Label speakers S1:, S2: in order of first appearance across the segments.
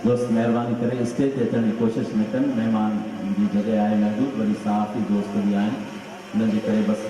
S1: دوست مهرباني ڪري اسٽيج تي اچڻ جي ڪوشش نه ڪن مهمان جي جڳهه آهي محدود وري صحافي دوست به آهن انهن جي ڪري بس.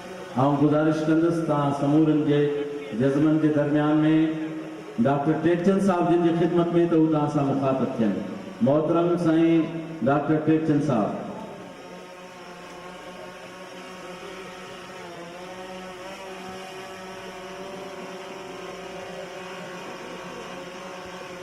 S1: آئون گذارش ڪندس ته آء سمورن جي جذبن جي درميان ۾ ڊاڪٽر ٽيڪچند صاحب جن جي خدمت ۾ ته هو توهان سان مخاطب ٿين. محترم سائين ڊاڪٽر ٽيڪچند صاحب!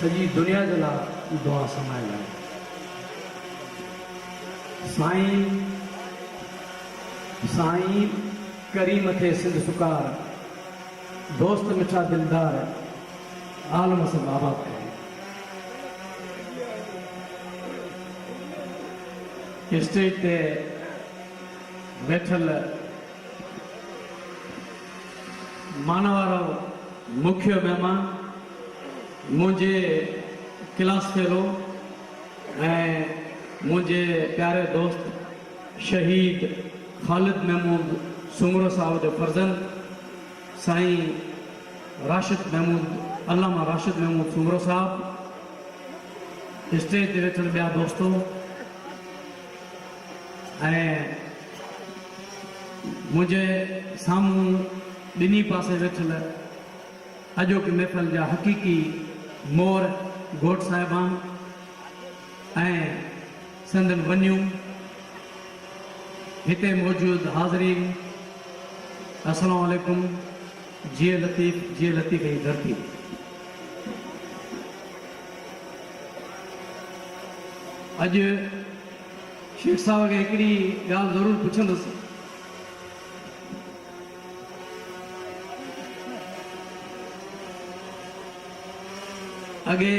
S1: سڄي دنيا جي لا دعا سمايل آهي سائين سائين ڪريم ٿئي سنڌ سڪار دوست مٺا دلدار عالم سڀ آباد ڪري اسٽيج تي ويٺل مان وارو مکيو مهمان منهنجي ڪلاس فيلو ۽ منهنجي پياري دوست شهيد خالد محمود سومرو صاحب جو فرزند سائين راشد محمود علامه راشد محمود سومرو صاحب، اسٽيج تي ويٺل ٻيا دوستو ۽ منهنجي سامهون ٻنهي پاسي ويٺل اڄوڪي محفل جا حقيقي مور گهوٽ صاحبان ۽ سندن ونيون، هتي موجود حاضرين السلام عليڪم، جيء لطيف جيء لطيف جي ڌرتي. اڄ شيخ صاحب کي هڪڙي ڳالهه ضرور پڇندس. اڳي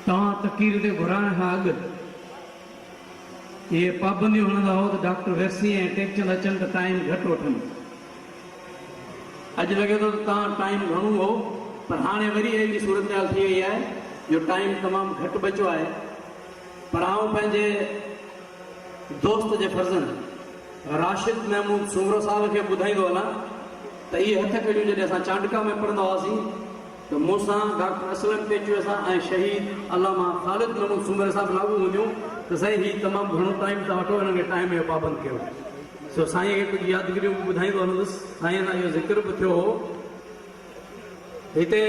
S1: توهان تقرير تي گهرائڻ کان اڳ اهي پابنديون هڻندا هئو ته ڊاڪٽر ويسي ۽ ٽيڪچند اچن ته ٽائيم گهٽ وٺن. اڄ لڳي ٿو ته توهان ٽائيم گهڻو هئو پر هاڻي وري اهڙي صورتحال ٿي وئي آهي جو ٽائيم تمام گهٽ بچيو آهي پر آئون پنهنجي دوست جي فرزند راشد محمود سومرو صاحب کي ٻڌائيندو هلان ته اهي هٿ ڪڙيون جڏهن اسان چانڊڪا ۾ پڙهندا هئاسين ته مون سان ڊاڪٽر اسلم ٽيچوي سان ۽ شهيد علامه خالد محمود سومري صاحب لاڳو هونديون ته سائين هي تمام گهڻو ٽائيم ٿا وٺو هنن کي ٽائيم جو پابند ڪيو سو سائين کي ڪجهه يادگريون به ٻڌائيندو هلندس سائين سان اهو ذڪر به ٿيو هو هتي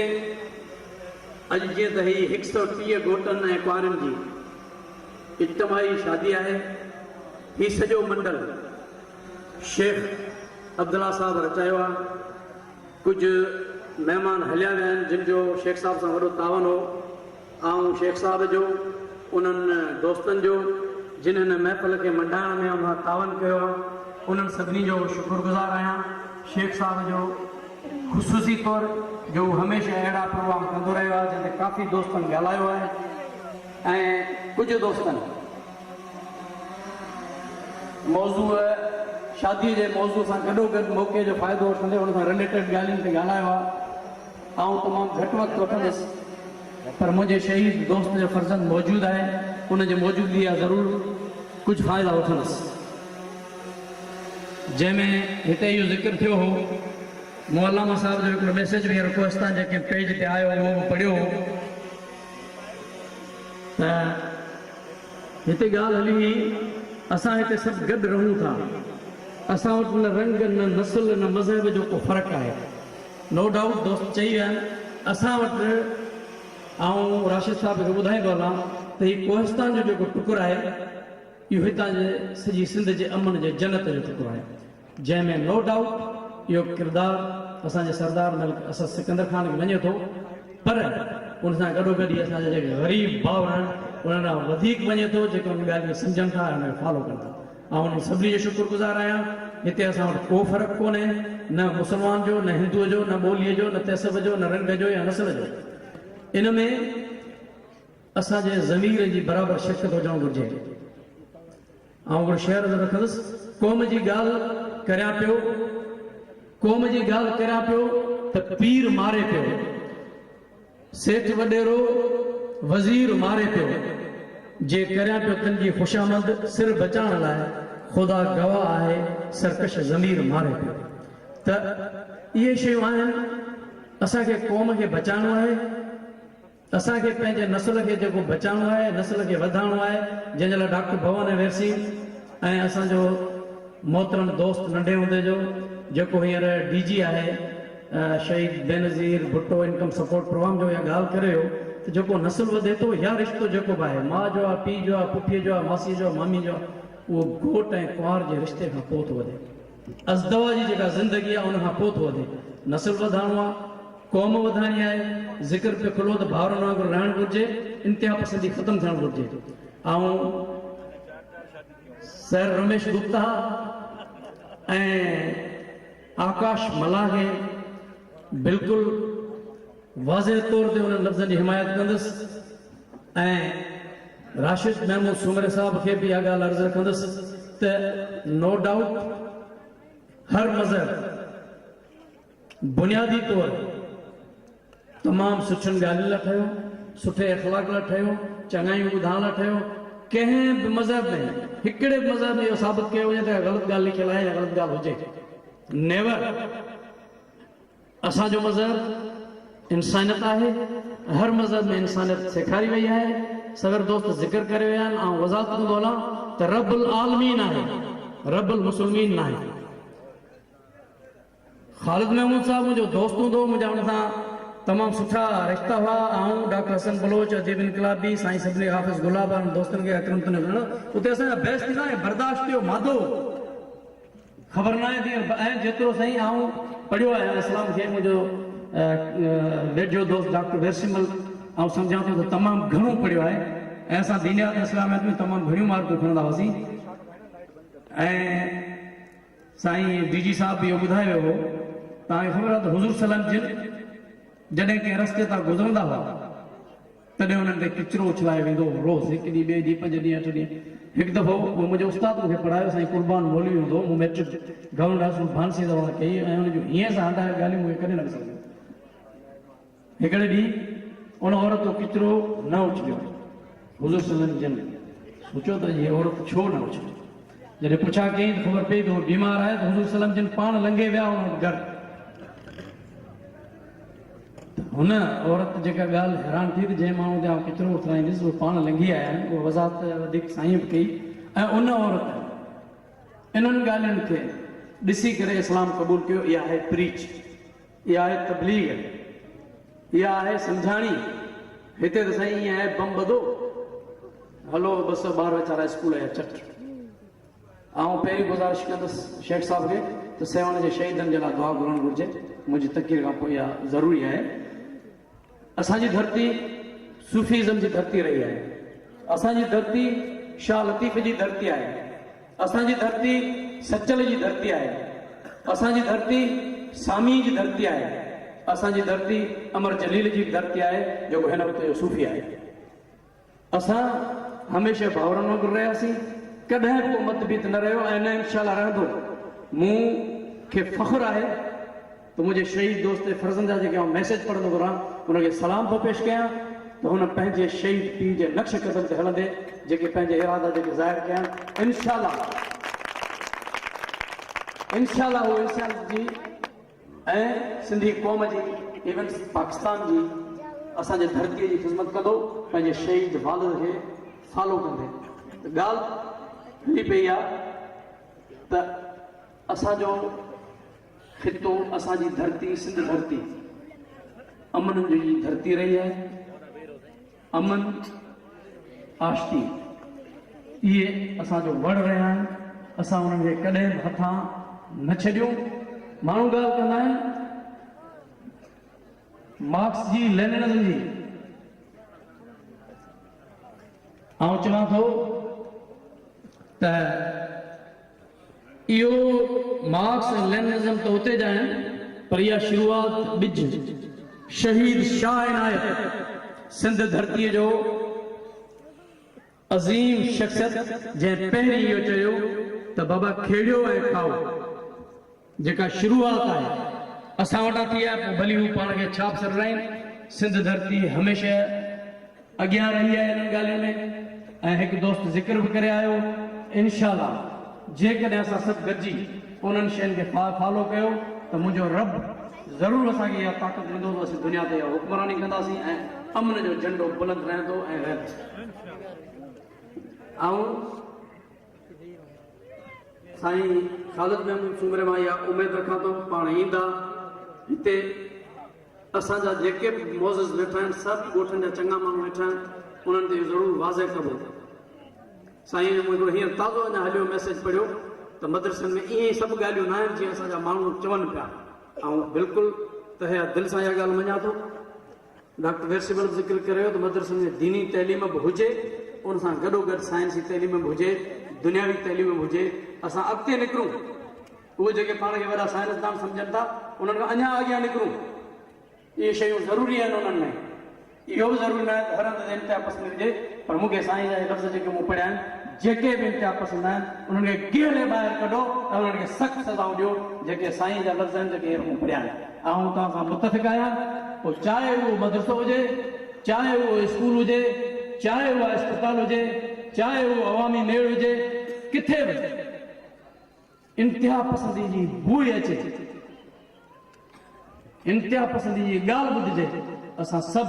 S1: اڄ جيئن ته هي هڪ سئو ٽيهه گهوٽن ۽ ڪوارين جي اجتماعي شادي آهي. هي سڄو منڊل شيخ عبدالله صاحب رچايو آ. ڪجهه مهمان هليا ويا آهن جن جو شيخ صاحب سان وڏو تعاون هو. آئون شيخ صاحب جو انهن دوستن جو جن هن محفل کي منڊائڻ ۾ اونها تعاون ڪيو آ انهن سڀني جو شڪر گذار آهيان. شيخ صاحب جو خصوصي طور جو هو هميشه اهڙا پروگرام ڪندو رهيو آ جنهن تي ڪافي دوستن ڳالهايو آهي. ۽ ڪجهه دوستن موضوع شاديء جي موضوع سان گڏوگڏ موقعي جو فائدو وٺندي ان سان رليٽيڊ ڳالهين تي ڳالهايو آهي. آئون تمام گهٽ وقت وٺندس پر منهنجي شهيد دوست جو فرزند موجود آهي ان جي موجودگي جا ضرور ڪجهه فائدا وٺندس جنهن ۾ هتي اهو ذڪر ٿيو هو مون علامه صاحب جو هڪڙو ميسيج به هينئر ڪوهستان جي ڪنهن پيج تي آيو هو اهو به پڙهيو هو. ته هتي ڳالهه هلي هئي اسان هتي سڀ گڏ رهون ٿا، اسان وٽ نه رنگ، نه نسل، نه مذهب جو ڪو فرق آهي. نو ڊائوٽ دوست چئي ويا آهن اسان وٽ آئون راشد صاحب کي ٻڌائيندو هلان ته هي ڪوهستان جو جيڪو ٽڪر آهي اهو هتان جي سڄي سنڌ جي امن جي جنت جو ٽڪر آهي جنهن ۾ نو ڊائوٽ اهو ڪردار اسان جي سردار ملڪ اسد سڪندر خان کي وڃي ٿو پر ان سان گڏو گڏ هي اسان جا جيڪي غريب ڀائر آهن انهن ڏانهن وڌيڪ وڃي ٿو جيڪي انهن ڳالهين کي سمجهن ٿا ۽ ان کي فالو ڪن ٿا آئون انهن سڀني جو شڪر گذار آهيان هتي اسان وٽ ڪو فرق ڪونهي نه مسلمان جو نه هندو جو نه ٻولي جو نه تهسب جو نه رنگ جو يا نسل جو ان ۾ اسان جي ضمير جي برابر شرڪت هجڻ گهرجي. آئون هڪڙو شعر عرض رکندس، قوم جي ڳالهه ڪريان پيو، قوم جي ڳالهه ڪريان پيو ته پير ماري پيو، سيٺ وڏيرو وزير ماري پيو، جي ڪريان پيو تن جي خوشامد سر بچائڻ لاء خدا گواهه آهي سرڪش ضمير ماري پيو ته اهي شيون آهن اسان کي قوم کي بچائڻو آهي. اسان کي پنهنجي نسل کي جيڪو بچائڻو آهي، نسل کي وڌائڻو آهي، جنهن جي لاء ڊاڪٽر ڀون ۽ ويرسين ۽ اسان جو محترم دوست ننڍي هوندي جو جيڪو هينئر ڊي جي آهي شهيد Benazir Bhutto income support program جو اها ڳالهه ڪري هو ته جيڪو نسل وڌي ٿو يا رشتو جيڪو به آهي ماء جو آهي، پيء جو آهي، پڦيء جو آهي، ماسيء جو آهي، مامي جو آهي اهو گهوٽ ۽ ڪنوار جي رشتي کان پوء ٿو وڌي. ازدوا جي جيڪا زندگي آ ان کان پوء ٿو وڌي. نسل وڌائڻو آ، قوم وڌائڻي آهي، ذڪر پيو کلو ته ڀائرن وانگر رهڻ گهرجي، انتها پسندي ختم ٿيڻ گهرجي. آئون سر رميش گپتا ۽ آڪاش ملاح کي بلڪل واضح طور تي انهن لفظن جي حمايت ڪندس ۽ راشد محمود سومري صاحب کي به اها ڳالهه عرض رکندس ته نو ڊائوٽ هر مظهر بنيادي طور تمام سٺين ڳالهين لاء ٺهيو، سٺي اخلاق لاء ٺهيو، چڱايون ٻڌائڻ لاء ٺهيو، ڪنهن به مذهب ۾ هڪڙي به مذهب ۾ اهو ثابت ڪيو وڃي ته غلط ڳالهه لکيل آهي يا غلط ڳالهه هجي نيور. اسان جو مذهب انسانيت آهي ۽ هر مذهب ۾ انسانيت سيکاري وئي آهي، صغر دوست ذڪر ڪري ويا آهن، آئون وضاحت ڪندو هلان ته رب العالمين آهي، رب المسلمين ناهي. خالد محمود صاحب منهنجو دوست هوندو هو، منهنجا هن سان تمام سٺا رشتا هئا، آئون، ڊاڪٽر حسن بلوچ، اديب انقلابي، سائين سبني حافظ گلاب وارن دوستن کي اڪرم تنيو سڏيندو هو، اتي اسان جا بحث ٿيندا ۽ برداشت جو مادو خبر ناهي دير به ۽ جيترو سائين آئون پڙهيو آهيان اسلام کي منهنجو ويجهو دوست ڊاڪٽر ويرسيمل آئون سمجهان ٿو ته تمام گهڻو پڙهيو آهي ۽ اسان دينيات اسلاميات ۾ تمام گهڻيون مارڪون کڻندا هئاسين ۽ سائين ڊي جي صاحب به اهو ٻڌائي ويو هو توهان کي خبر آهي ته حضور صليم جن جڏهن ڪنهن رستي تان گذرندا هئا تڏهن انهن تي ڪچرو اڇلايو ويندو هو روز هڪ ڏينهن ٻئي ڏينهن پنج ڏينهن اٺ ڏينهن هڪ دفعو منهنجي استاد مون کي پڙهايو سائين قربان مولوي هوندو هو مون مئٽرڪ گورنمينٽ هاء اسڪول ڀانسيء زوان ڪئي ۽ انهن جون هيئن سان هنڊايل ڳالهيون مون کي ڪڏهن نه وسرجن هڪڙي ڏينهن ان عورت تو ڪچرو نه اڇليو حضور صلي الله جن سوچيو ته اڄ هي عورت ڇو نه اڇليو جڏهن پڇا ڪيائين ته خبر پئي ته هو بيمار آهي ته حضور صلي الله جن پاڻ لنگهي ويا هن وٽ گهر هن عورت جيڪا ڳالهه حيران ٿي ته جنهن ماڻهو تي آئون ڪچرو اٿرائينديس اهو پاڻ لنگهي آيا آهن اها وضاحت وڌيڪ سائينء به ڪئي ۽ ان عورت انهن ڳالهين کي ڏسي ڪري اسلام قبول ڪيو اها آهي پريچ اها آهي تبليغ اها آهي سمجهاڻي هتي ته سائين ائين آهي بم ٻڌو هلو ٻه سؤ ٻار ويچارا اسڪول جا چٽ آئون پهرين گذارش ڪندس شيخ صاحب کي ته سيوهڻ جي شهيدن جي لاء دعا گهرڻ گهرجي، منهنجي تقرير کان پوء اها ضروري آهي. اسان جي ڌرتي صوفي ازم جي ڌرتي رهي آهي، اسان جي ڌرتي شاهه لطيف جي ڌرتي آهي، اسان جي ڌرتي سچل جي ڌرتي آهي، اسان جي ڌرتي ساميء جي ڌرتي آهي، اسان جي ڌرتي امر جليل جي به ڌرتي آهي جيڪو هن وقت جو صوفي آهي. اسان هميشه ڀائرن وانگر رهياسين، ڪڏهن به ڪو مت ڀيت نه رهيو ۽ نه انشاء الله رهندو. مون کي فخر آهي ته منهنجي شهيد دوست ۽ فرزند جا جيڪي آئون ميسيج پڙهندو به رهان، ان کي سلام ٿو پيش ڪيان ته هن پنهنجي شهيد پيء جي نقش قدم تي هلندي جيڪي پنهنجي ارادا جيڪي ظاهر ڪيا آهن، انشاء الله انشاء الله هو انسانيت جي. ۽ سنڌي قوم جي ايون پاڪستان جي اسان جي ڌرتي جي خذمت ڪندو پنهنجي شهيد والد کي فالو ڪندي ته ڳالھ هلي پئي آ ته اسان جو خطو اسان جي ڌرتي سنڌ ڌرتي امن جي ڌرتي رهي آهي. امن آشتي اهي اسان جو وڙ رهيا آهن، اسان انهن کي ڪڏهن به هٿان نه ڇڏيون. ماڻهو ڳالهه ڪندا آهن مارڪس جي، ليننزم جي، آئون چوان ٿو ته، اهو مارڪس ۽ ليننزم ته اتي جا آهن پر اها شروعات ٻج شهيد شاهه عنايت سنڌ ڌرتيء جو عظيم شخصيت جنهن پهرين اهو چيو ته بابا کيڙيو ۽ کائو. جيڪا شروعات آهي اسان وٽان ٿي آهي پوء ڀلي هو پاڻ کي ڇا به سڏرائين سنڌ ڌرتي هميشه اڳيان رهي آهي انهن ڳالهين ۾ ۽ هڪ دوست ذڪر به ڪري آيو انشاء الله جيڪڏهن اسان سڀ گڏجي انهن شين کي فالو ڪيو ته منهنجو رب ضرور اسان کي اها طاقت ڏيندو ته اسين دنيا تي حڪمراني ڪنداسين ۽ امن جو جهنڊو بلند رهندو ۽ رهندو آئون سائين خالد محمود سومري مان اها اميد رکان ٿو پاڻ ايندا هتي اسان جا جيڪي به معزز ويٺا آهن سڀ ڳوٺن جا چڱا ماڻهو ويٺا آهن انهن تي ضرور واضح ڪبو سائين مون هڪڙو هينئر تازو اڃا هليو ميسج پڙهيو ته مدرسن ۾ ائين ئي سڀ ڳالهيون نه آهن جيئن اسان جا ماڻهو چون پيا آئون بلڪل تهيا دل سان اها ڳالهه مڃان ٿو ڊاڪٽر ويرسي ولڀ ذڪر ڪريو ته مدرسن ۾ ديني تعليم به هجي ان سان گڏوگڏ سائنسي تعليم به هجي دنياوي تعليم به هجي اسان اڳتي نڪرون اهي جيڪي پاڻ کي وڏا سائنسدان سمجهن ٿا انهن کان اڃا اڳيان نڪرون اهي شيون ضروري آهن انهن ۾ اهو به ضروري ناهي ته هر هنڌ تي انتها پسندي هجي پر مون کي سائين جا هي لفظ جيڪي مون پڙهيا آهن جيڪي به انتها پسند آهن انهن کي گهلي ٻاهر ڪڍو ۽ انهن کي سخت سزائون ڏيو جيڪي سائين جا لفظ آهن جيڪي هينئر مون پڙهيا آهن آئون توهان سان متفق آهيان پوء چاهي اهو مدرسو هجي، چاهي اهو اسڪول هجي، چاهي اها اسپتال هجي، چاهي اهو عوامي ميڙ هجي، ڪٿي به انتهاپسندي جي بوء اچي، انتهاپسندي جي ڳالهه ٻڌجي ته اسان سڀ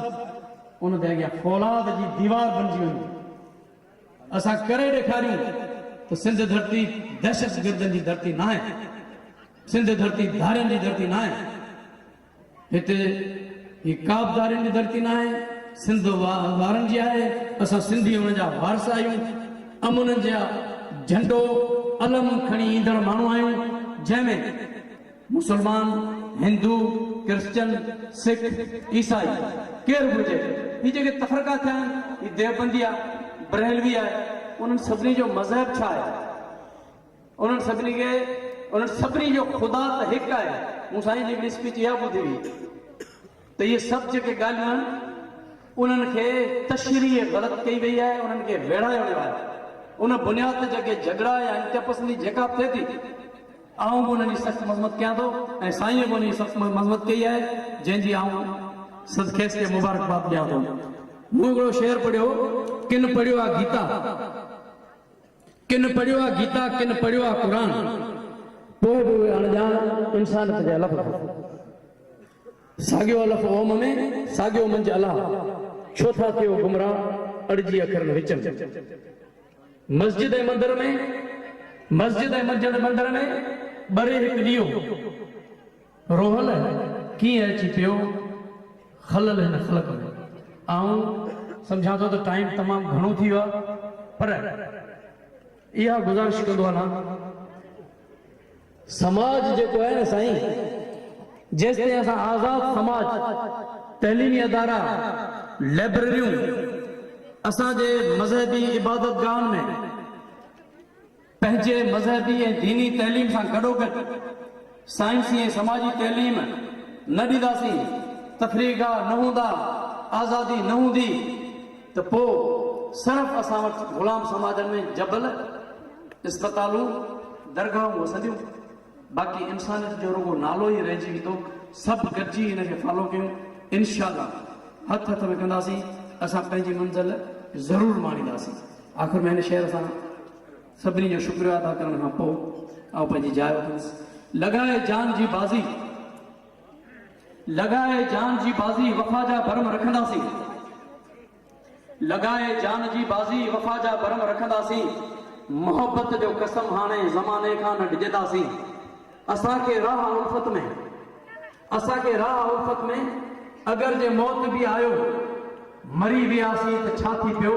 S1: ان جي اڳيان فولاد جي ديوار بنجي وڃون. اسان ڪري ڏيکاريون ته سنڌ ڌرتي دهشتگردن جي ڌرتي ناهي، سنڌ ڌرتي ڌارين جي ڌرتي ناهي، هتي هي ڪابه ڌارين جي ڌرتي ناهي، سنڌ وارن جي آهي، اسان سنڌي ان جا وارث آهيون، امن جا جهنڊو علم کڻي ايندڙ ماڻهو آهيون، جنهن ۾. مسلمان، هندو، ڪرسچن، سک، عيسائي ڪير به هجي هي جيڪي تفرقا ٿيا آهن هي ديوبندي آهي، برهلوي آهي انهن سڀني جو مذهب ڇا آهي؟ انهن سڀني کي انهن سڀني جو خدا ته هڪ آهي مون سائين جي هڪڙي اسپيچ اها ٻڌي هئي. ته اهي سڀ جيڪي ڳالهيون آهن انهن کي تشريح غلط ڪئي وئي آهي انهن کي ويڙهايو ويو آهي ان بنياد تي جيڪي جهڳڙا يا انتها پسندي جيڪا به ٿئي ٿي آئون به انهن جي سخت مذمت ڪيان ٿو ۽ سائينء به ان جي سخت مذمت ڪئي آهي جنهن جي آئون سد کيس کي مبارڪباد ڏيان ٿو مون هڪڙو شعر پڙهيو هو ڪن پڙهيو آهي گيتا ڪن پڙهيو آهي گيتا ڪن پڙهيو آهي قرآن پوء به اهي اڻڄاڻ انسانيت جا لفظ ساڳيو الف اوم ۾، ساڳيو منجهه الا، ڇو ٿا ٿيو گمراهه اڙجي اکرن وچ ۾. مسجد ۽ مندر ۾، مسجد ۽ منجهه مندر ۾، ٻري هڪ ڏيئو. روحل ڪيئن اچي پيو خلل هن خلق ۾. آئون سمجهان ٿو ته ٽائيم تمام گهڻو ٿي ويو آهي پر اها گذارش ڪندو هلان. سماج جيڪو آهي نه سائين جيستائين اسان آزاد سماج تعليمي ادارا لئبرريون اسان جي مذهبي عبادت گاهن ۾ پنهنجي مذهبي ۽ ديني تعليم سان گڏوگڏ سائنسي ۽ سماجي تعليم نه ڏينداسين تفريح گاهه نه هوندا آزادي نه هوندي. ته پوء صرف اسان وٽ غلام سماجن ۾ جبل، اسپتالون، درگاهون وسنديون، باقي انسانيت جو رڳو نالو ئي رهجي ويندو، سڀ گڏجي ان کي فالو ڪيون، انشاء الله هٿ هٿ ۾ ڪنداسين، اسان پنهنجي منزل ضرور ماڻينداسين. آخر ۾ هن شعر سان سڀني جو شڪريو ادا ڪرڻ کان پوء آئون پنهنجي جاء وٺندس. لڳائي جان جي بازي. لڳائي جان جي بازي وفا جا برم رکنداسين لڳائي جان جي بازي وفا جا برم رکنداسين محبت جو قسم هاڻي زماني کان نه ڊڄنداسين اسان کي راهه الفت ۾ اسان کي راهه الفت ۾ اگر جي موت به آيو مري وياسين ته ڇا ٿي پيو،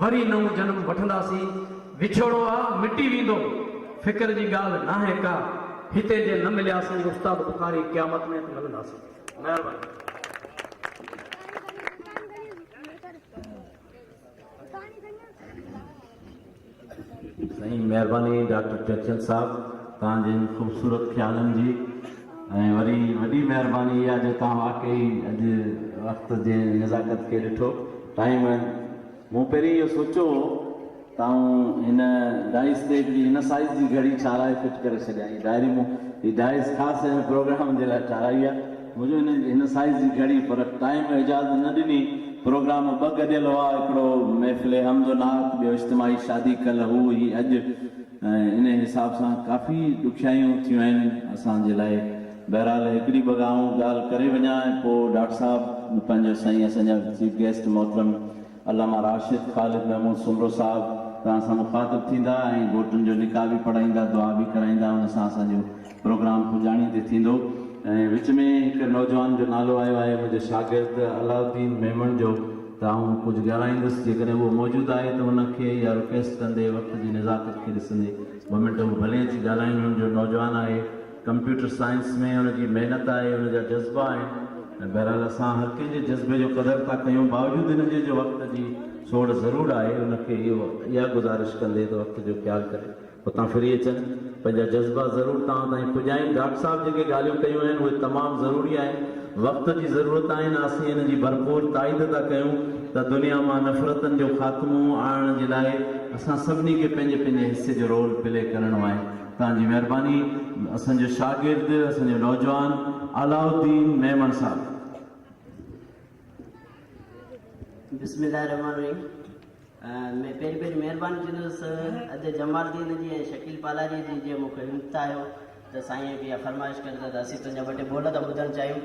S1: وري نئون جنم وٺنداسين، وڇوڙو آ مٽي ويندو، فڪر جي ڳالهه ناهي ڪا، هتي جي نه ملياسين استاد بخاري قيامت ۾ ته ملنداسين. مهرباني.
S2: سائين مهرباني ڊاڪٽر چرچل صاحب توهان جي ان خوبصورت خيالن جي ۽ وري وڏي مهرباني اها جو توهان واقعي اڄ وقت جي نزاڪت کي ڏٺو ٽائيم مون پهرين اهو سوچيو هو ته آئون هن ڊائس تي هڪڙي هن سائيز جي گهڙي ٺاهرائي فٽ ڪري ڇڏيان هي ڊائري مون هي ڊائس خاص هن پروگرام جي لاء ٺاهرائي آهي منهنجو هن هن سائيز جي گهڙي پر ٽائيم اجازت نه ڏني. پروگرام ٻه گڏيل هئا، هڪڙو محفل حمد و نعت، ٻيو اجتماعي شادي ڪل هو هي اڄ ۽ انهي حساب سان ڪافي ڏکيائيون ٿيون آهن اسان جي لاء. بهرحال هڪڙي ٻه آئون ڳالهه ڪري وڃان ۽ پوء ڊاڪٽر صاحب پنهنجو سائين اسان جا چيف گيسٽ محترم علامه راشد خالد محمود سومرو صاحب توهان سان مخاطب ٿيندا ۽ ڀوٽن جو نڪاح به پڙهائيندا دعا به ڪرائيندا ان سان اسان جو پروگرام پڄاڻي تي ٿيندو ۽ وچ ۾ هڪ نوجوان جو نالو آيو آهي منهنجي شاگرد علاء الدين ميمڻ جو ته آئون ڪجهه ڳالهائيندس جيڪڏهن اهو موجود آهي ته ان کي اها رڪويسٽ ڪندي وقت جي نزاڪت کي ڏسندي ٻه منٽ هو ڀلي اچي ڳالهائين هن جو نوجوان آهي ڪمپيوٽر سائنس ۾ ان جي محنت آهي، ان جا جذبا آهن ۽ بهرحال اسان هر ڪنهن جي جذبي جو قدر ٿا ڪيون باوجود ان جي جو وقت جي سوڙ ضرور آهي ان کي اهو اها گذارش ڪندي ته وقت جو خيال ڪري اتان ڦري اچن پنهنجا جذبا ضرور توهان تائين پڄائين ڊاڪٽر صاحب جيڪي ڳالهيون ڪيون آهن اهي تمام ضروري آهن وقت جي ضرورت آهن اسين ان جي ڀرپور تائيد ٿا ڪيون ته دنيا مان نفرتن جو خاتمو آڻڻ جي لاء اسان سڀني کي پنهنجي پنهنجي حصي جو رول پلي ڪرڻو آهي توهان جي مهرباني اسان جو شاگرد اسان جو نوجوان علاء الدين ميمڻ صاحب.
S3: بسم الله الرحمٰن الرحيم ۾ پهرين پهرين مهرباني ڪندس ادا جمال الدين جي ۽ شڪيل پالاري جي جنهن مون کي همٿايو ته سائين هڪ اها فرمائش ڪر ته اسين تنهنجا ٻه ٽي ٻول ٿا ٻڌڻ چاهيون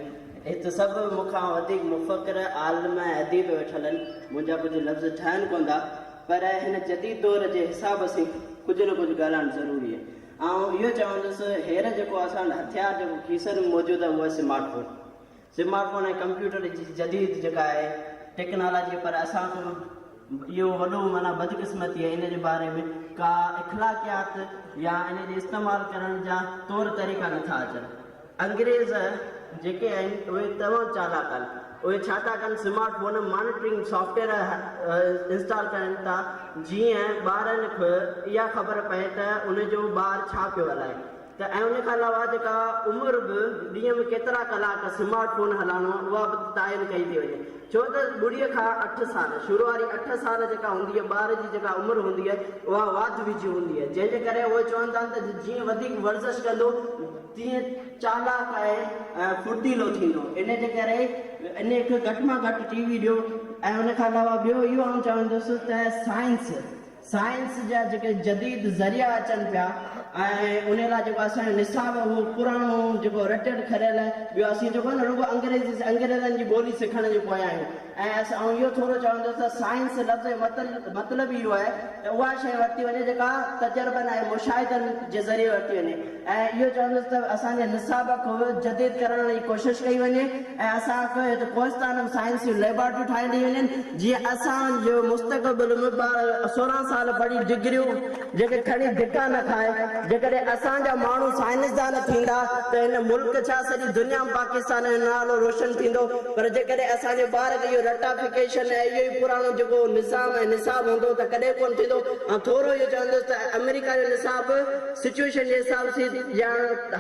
S3: هت سڀ مون کان وڌيڪ مفڪر عالم ۽ اديب ويٺل آهن منهنجا ڪجهه لفظ ٺهن ڪونه ٿا پر هن جديد دور جي حساب سين ڪجهه نه ڪجهه ڳالهائڻ ضروري آهي. آئون اهو چوندس هير جيڪو اسان وٽ هٿيار جيڪو کيسن ۾ موجود آهي اهو آهي smart phone. Smart phone ۽ computer جي جديد جيڪا آهي ٽيڪنالاجي پر اسان کان اهو وڏو معنيٰ بدقسمتي آهي ان جي باري ۾ ڪا اخلاقيات يا ان جي استعمال ڪرڻ جا طور طريقا نه ٿا اچن. انگريز جيڪي آهن اهي تمام چالاڪ آهن اهي ڇا ٿا ڪن smart phone monitoring software install ڪرائين ٿا جيئن ٻارن کي اها خبر پئي ته ان جو ٻار ڇا پيو هلائي ته ۽ ان کان علاوه جيڪا عمر به ڏينهن ۾ ڪيترا ڪلاڪ سمارٽ فون هلائڻو آهي اها به تعين ڪئي ٿي وڃي ڇو ته ٻڙي کان اٺ سال شروع واري اٺ سال جيڪا هوندي آهي ٻار جي جيڪا عمر هوندي آهي اها واڌ ويجهه هوندي آهي جنهن جي ڪري اهي چون ٿا ته جيئن وڌيڪ ورزش ڪندو تيئن چالاڪ ۽ ڦڙتيلو ٿيندو. انهيء جي ڪري انهيء کي گهٽ مان گهٽ ٽي وي ڏيو ۽ ان کان علاوه ٻيو اهو آئون چوندس ته سائنس، سائنس جا جيڪي جديد ذريعا اچن پيا ۽ انهيء لاء جيڪو اسان جو نصاب آهي اهو پراڻو جيڪو رٽيل کڙيل ٻيو اسين جيڪو آهي نه رڳو انگريزي، انگريزن جي ٻولي سکڻ جي پويان آهيون. ۽ آئون اهو ٿورو چوندس ته سائنس لفظ جو مطلب ئي اهو آهي ته اها شيء ورتي وڃي جيڪا تجربن ۽ مشاهدن جي ذريعي ورتي وڃي ۽ اهو چوندس ته اسان جي نصاب کي جديد ڪرڻ جي ڪوشش ڪئي وڃي ۽ اسان کي هت ڪوهستان ۾ سائنس جون ليبارٽريون ٺاهيندي وڃن جيئن اسان جو مستقبل ۾ ٻار سورهن سال پڙهي ڊگريون جيڪي کڻي ڌڪا نه کائي. جيڪڏهن اسان جا ماڻهو سائنسدان ٿيندا ته هن ملڪ ڇا سڄي دنيا ۾ پاڪستان جو نالو روشن ٿيندو پر جيڪڏهن اسان جي ٻار کي اهو رٽا فڪيشن ۽ اهو ئي پراڻو جيڪو نظام ۽ نصاب هوندو ته ڪڏهن ڪونه ٿيندو آئون ٿورو اهو چوندس ته آمريڪا جو نصاب به سچويشن جي حساب سين يا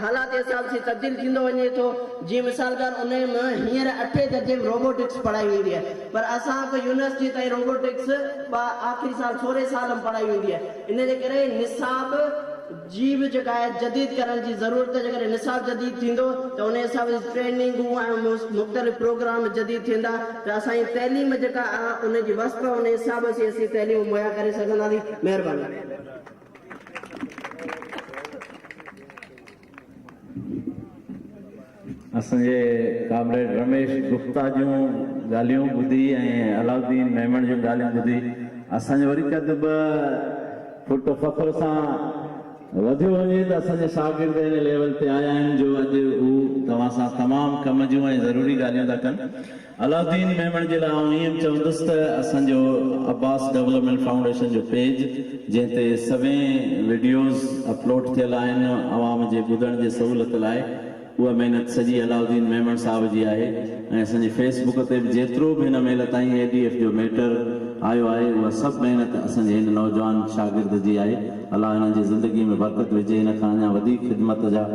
S3: حالات جي حساب سين تبديل ٿيندو وڃي ٿو جيئن مثال طور انهي م هينئر اٺين درجي م روبوٽڪس پڙهائي ويندي آهي. پر اسان ڪو يونيورسٽي تائين روبوٽڪس با آخري سال سورهين سال م پڙهائي ويندي آهي ان جي ڪري نصاب جي به جيڪا آهي جديد ڪرڻ جي ضرورت جي ڪري نصاب جديد ٿيندو ته انهي حساب جي ٽريننگون ۽ مختلف پروگرام جديد ٿيندا ته اسان جي تعليم جيڪا آ ان جي وسپ ان حساب اسين اسين تعليم مهيا ڪري سگهنداسين مهرباني.
S2: اسان جي ڪامريڊ رميش گپتا جون ڳالهيون ٻڌي ۽ علاؤالدين ميمڻ جون ڳالهيون ٻڌي اسان جو وري قد ٻه فٽ فخر سان وڌيو وڃي ته اسان جا شاگرد ان ليول تي آيا آهن جو اڄ هو توهان سان تمام ڪم جون ۽ ضروري ڳالهيون ٿا ڪن. علاؤالدين ميمڻ جي لاء آئون ائين چوندس ته اسان جو عباس ڊولپمينٽ فائونڊيشن جو پيج جنهن تي سوين وڊيوز اپلوڊ ٿيل آهن عوام جي ٻڌڻ جي سهولت لاء اها محنت سڄي علاؤالدين ميمڻ صاحب جي آهي ۽ اسان جي فيس بڪ تي به جيترو به هن مهل تائين اي ڊي ايف جو ميٽر آيو آهي اها سڀ محنت اسان جي هن نوجوان شاگرد جي آهي الله هن جي زندگي ۾ برڪت وجهي هن کان اڃا وڌيڪ خدمت جا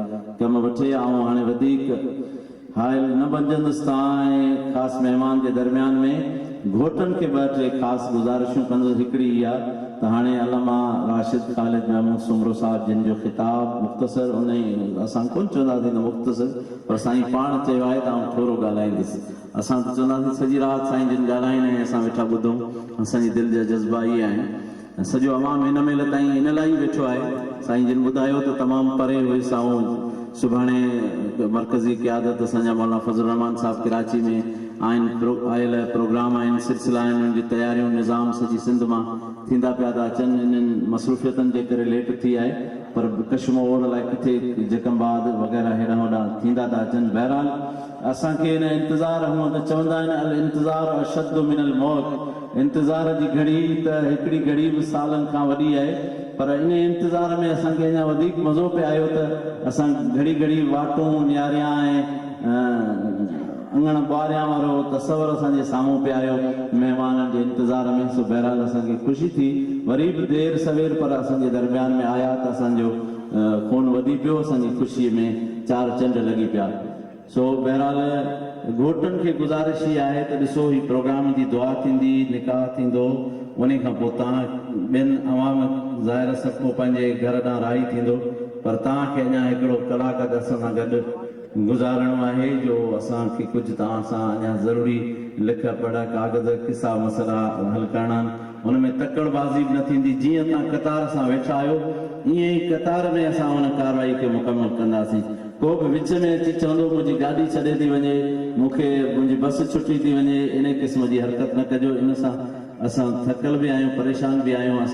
S2: ڪم وٺي آئون هاڻي وڌيڪ حائل نه بنجندس تان ۽ خاص مهمان جي درميان ۾ گهوٽن کي ٻه ٽي خاص گذارشون ڪندس هڪڙي اها ته هاڻي علامه راشد خالد محمود سومرو صاحب جن جو خطاب مختصر ان اسان ڪونه چونداسين ته مختصر پر سائين پاڻ چيو آهي ته آئون ٿورو ڳالهائيندس اسان ته چونداسين سڄي رات سائين جن ڳالهائين ۽ اسان ويٺا ٻڌون اسان جي دل جا جذبا اهي آهن ۽ سڄو عوام هن مهل تائين ان لاء ئي ويٺو آهي، سائين جن ٻڌايو ته تمام پري هئي سائون سڀاڻي مرڪزي قيادت اسان جا مولانا فضل الرحمان صاحب ڪراچي ۾ آهن آيل پروگرام آهن سلسلا آهن انهن جي تياريون نظام سڄي سنڌ مان ٿيندا پيا ٿا اچن انهن مصروفيتن جي ڪري ليٽ ٿي آهي پر ڪشمور الائي ڪٿي جيڪب آباد وغيره هيڏانهن هوڏانهن ٿيندا ٿا اچن بهرحال اسان کي نه انتظار هونئن ته چوندا آهن الانتظار اشد من الموت انتظار جي گهڙي ته هڪڙي گهڙي به سالن کان وڏي آهي پر انهي انتظار ۾ اسان کي اڃا وڌيڪ مزو پئي آيو ته اسان گهڙي گهڙي واٽون نهاريا ۽ اڱڻ ٻهاريان وارو تصور اسان جي سامهون پئي آيو مهمانن جي انتظار ۾ سو بهرحال اسان کي خوشي ٿي وري به دير سوير پر اسان جي درميان ۾ آيا ته اسان جو خون وڌي پيو اسان جي خوشي ۾ چار چنڊ لڳي پيا. سو بهرحال گهوٽن کي گذارش هي آهي ته ڏسو هي پروگرام جي دعا ٿيندي، نڪاح ٿيندو، انهي کان پوء تان ٻين عوام ظاهر سڀ ڪو پنهنجي گهر ڏانهن راهي ٿيندو پر تان کي اڃا هڪڙو ڪلاڪ اڌ اسان سان گڏ گذارڻو آهي جو اسان کي ڪجهه تان سان اڃا ضروري لک پڙهه ڪاغذ قصا مسئلا حل ڪرڻا آهن. هن ۾ تڪڙ بازي به نه ٿيندي، جيئن توهان قطار سان ويٺا آهيو، ايئن ئي قطار ۾ اسان ان ڪارروائي کي مڪمل ڪنداسين. ڪو به وچ ۾ اچي چوندو منهنجي گاڏي ڇڏي ٿي وڃي، مون کي منهنجي بس ڇٽي ٿي وڃي، انهي قسم جي حرڪت نه ڪجو، ان سان اسان ٿڪل به آهيون، پريشان به آهيون،